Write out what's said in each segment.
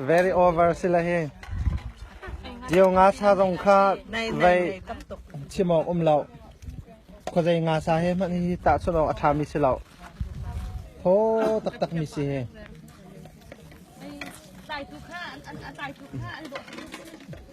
Very over sila hi. Dio nga sa zong kha vai chim awk um lo. Khuazei nga sa hi hman hi tah chun awk a ṭha mi si lo. Tho taktak mi si hi.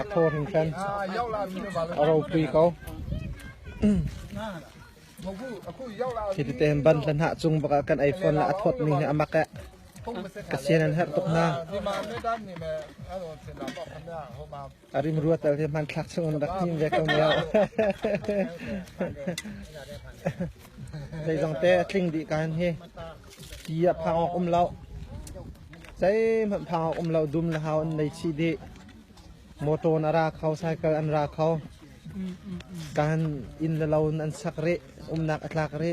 A thaw hin khan a ropui ko. Khi te ban hlan ha chung baka kan iPhone la a thawt mi hi amak e. Ka sian an har tuk na. A rim rua tal hi hmanthlak chungin rak hnim ve ko ne. Zeizong te a tling dih kan hi. Ti a phang ok um lo. Sei man phang ok um lo dum la hau an nei chi di. Motor na ra kho cycle an ra kho. Kan in la loan an sak ri. Umnak atlak ri.